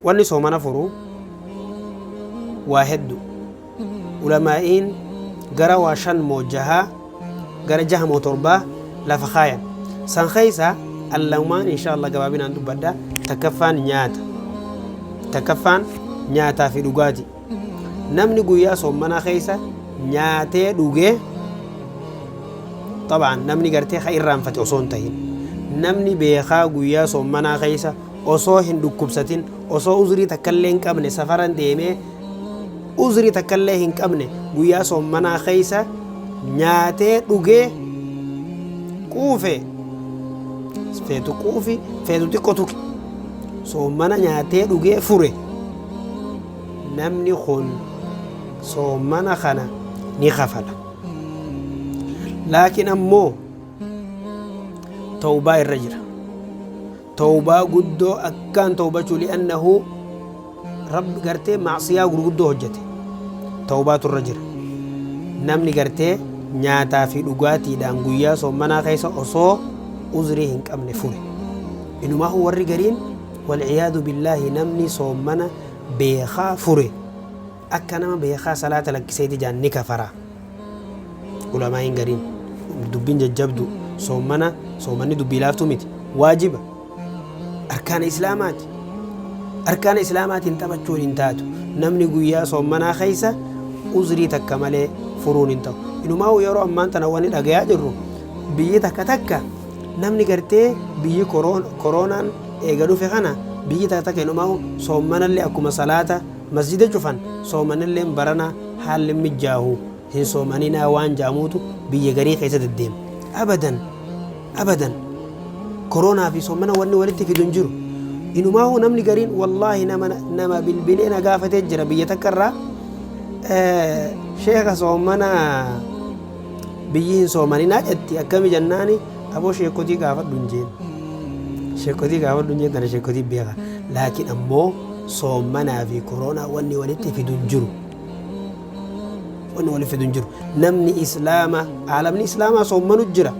Wanni soomana furu waa heddu. Ulamaa'iin gara waa shan moo jaha gara jaha moo torba lafa kaayan. San keessaa an lamaan inshaa Allaah gabaabinaan dubbadha. Takkaffaan nyaata. Takkaffaan nyaataa fi dhugaati. Namni guyyaa soommanaa keessa nyaatee dhugee xab'aan namni gartee ka irraanfate osoo hin tahin namni beekaa guyyaa soommanaa keessa osoo hin dhukkubsatin, osoo uzrii takkallee hin qabne safaran deemee uzrii takkallee hin qabne guyyaa soommanaa keessa nyaatee dhugee quufe feetu quufi feetu xiqqo tuqi soommana nyaatee dhugee fure namni kun soommana kana ni kafala laakiin ammoo tawbaa irra jira tawbaa guddoo akkaan tawbachuu li'annahu rabbi gartee macsiyaa gurguddoo hojjete tawbaatu irra jira namni gartee nyaataa fi dhugaatiidhaan guyyaa soommanaa keessa osoo uzrii hin qabne fure inumaahu warri gariin walciyaadu billaahi namni soommana beekaa fure Akka nama beekaa salaata lakkiseeti jaan ni kafara. Ulamaa'iin gariin dubbiin jajjabdu soommana soomanni dubbii laaftuu miti. Waajiba. Arkaana islaamaati. Arkaana islaamaatiin taphachuun hin taatu. Namni guyyaa soommanaa keessa uzrii takka malee furuun hin ta'u. Inumaa yeroo ammaan tana wani dhagayaa jirru biyyi takka takka namni gartee biyyi koroonaan eega dhufe kana biyyi takka takka inumaa soommanallee akkuma salaata Masjiida cufan soomanilleen barana haalli hin mijjaahu hin soomaninaa waan ja'amuutu biyya garii keessa deddeema. Abadan! Abadan! Koroonaa fi soomana wanni walitti fidu hin jiru. Inumaahuu namni gariin wallaahi nama nama bilbilee na gaafatee jira biyya takka irraa sheeka soomana biyyi hin soomaninaa jetti akkami jennaani aboo sheekotii gaafadhu hin jeen sheekotii gaafadhu hin jeen tana sheekotii beeka laakiin ammoo soomanaa fi koroonaa wanni walitti fidu hin jiru wanni walitti fidu hin jiru namni islaama aalamni islaamaa soomanu jira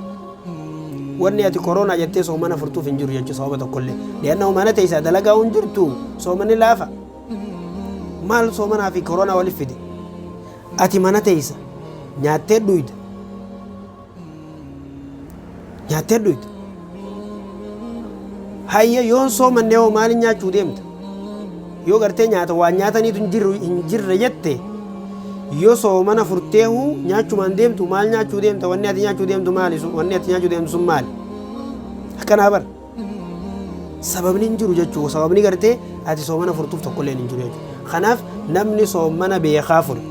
wanni ati koroonaa jettee soomana furtuuf hin jiru jechuu sababa tokkollee li'anna humana teessaa dalagaa hin jirtu soomanni laafa maal soomanaa fi koroonaa walitti fide Ati mana teessa nyaattee dhuyda. Nyaattee dhuyda. Hayya yoon soomannee hoo maaliin nyaachuu deemta? Yoo gartee nyaata waan nyaataniitu hin jirru hin jirre jette yoo soomana furtee huu nyaachumaan deemtu maal nyaachuu deemta wanni ati nyaachuu deemtu maali sun wanni ati nyaachuu deemtu sun maali? Akkanaa bar sababni hin jiru jechuu sababni gartee ati soomana furtuuf tokkolleen hin jiru jechuu kanaaf namni soomana beekaa fure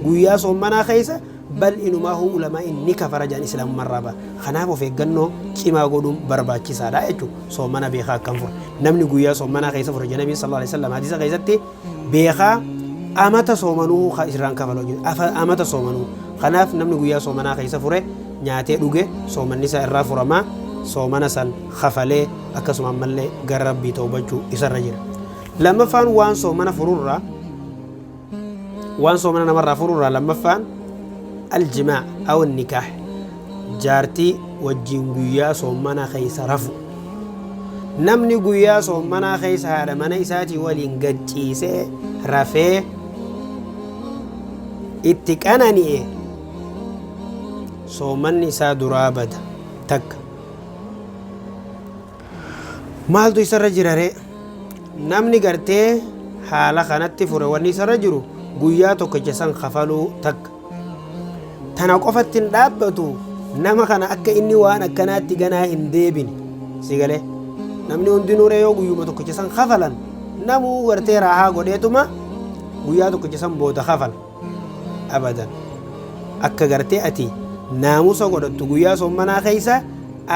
guyyaa soomanaa keessa bal inumaa huu ulamaa inni kafara jaan islaamummaa irraa ba'a kanaaf of eeggannoo cimaa godhuun barbaachisaadha jechuu soomana beekaa akkam fure namni guyyaa soomanaa keessa fure janabiin sallallahu alaihi wasallam hadiisa keessatti beekaa amata soomanuu ka isirraan kafala hojjete afa- amata soomanuu kanaaf namni guyyaa soomanaa keessa fure nyaatee dhuge soomanni isaa irraa furamaa soomana san kafalee akkasuma ammallee gara rabbii toobachuu isarra jira lammaffaan waan soomana fururraa waan soomana namarraa fururraa lammaffaan aljimaa aw nikaah Jaartii wajjin guyyaa soommanaa keessa rafu. Namni guyyaa soommanaa keessa haadha mana isaatii waliin gad ciisee rafee itti qanani'e soommanni isaa duraa bada takka. Maaltu isarra jira ree? Namni gartee haala kanatti fure wanni isarra jiru guyyaa tokkicha san kafaluu takka. tana qofatti hin dhaabbatu nama kana akka inni waan akkanaatti ganaa hin deebine si galee namni hundinuu ree yoo guyyuma tokkicha san kafalan namuu gartee raahaa godheetuma guyyaa tokkicha san booda kafala abadan akka gartee ati naamusa godhattu guyyaa sommanaa keessa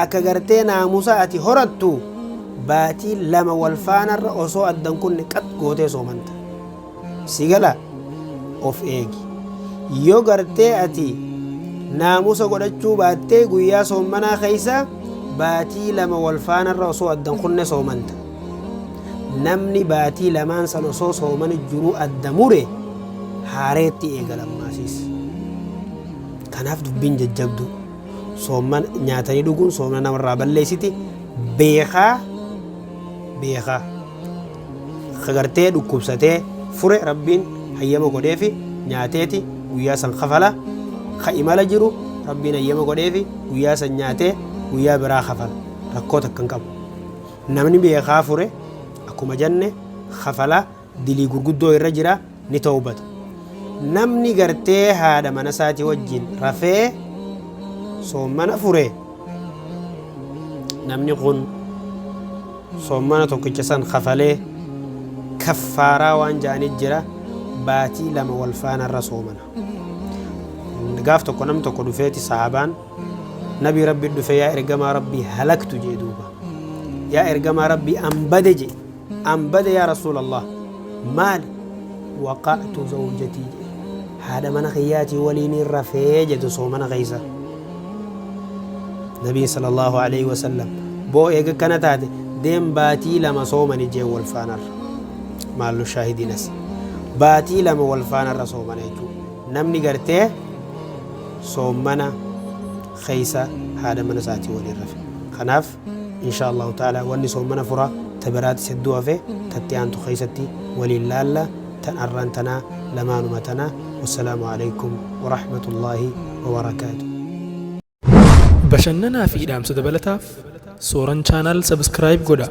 akka gartee naamusa ati horattu baatii lama wal faanarra osoo addan kunne qat gootee soomanta si gala of eegi yoo gartee ati naamusa godhachuu baattee guyyaa soommanaa keessa baatii lama wal faanarra osoo addan kunne soomanta namni baatii lamaan san osoo soomani jiruu adda mure haareetti eegalammaasiis kanaaf dubbiin jajjabdu soomman nyaatanii dhuguun soomna namarraa balleessiti beekaa beekaa kagartee dhukkubsatee fure rabbiin hayyama godheefi nyaateeti guyyaa san kafala ka imala jiru rabbiin hayyama godheefi guyyaa san nyaatee guyyaa biraa kafala rakkoo takka hin qabu namni beekaa fure akkuma janne kafala dilii gurguddoo irra jira ni tawbata namni gartee haadha mana isaatii wajjin rafee soommana fure namni kun soommana tokkicha san kafalee kaffaaraa waan ja'anii jira baatii lama wal faana irra soomana gaaf tokko nam tokko dhufeeti sahaabaan nabii rabbi dhufe yaa ergamaa rabbii halaktu jee duuba yaa ergamaa rabbii an bade jee an bade yaa rasuulallah maali waqa'tu zawjatii jedhe haadha mana kiyyaatii waliiniin rafee jedhe osoo mana keessa nabiin sallallahu alaihi wasallam boo eega kana taate deem baatii lama soomani jeen wal faanarra maallu shaahidiinas baatii lama wal faanarra soomana jechuudha namni gartee soomana keessa haadha mana isaatii waliin rafe kanaaf inshaa allahu ta'ala wanni soomana fura ta biraatis hedduu hafe tatti aantu keessatti waliin laalla tan arraan tanaa lamaanuma tana wassalaamu aleykum warahmatullaahi wabarakaatu Bashannanaa fi dhaamsa dabalataaf Sooran Channel subscribe godhaa.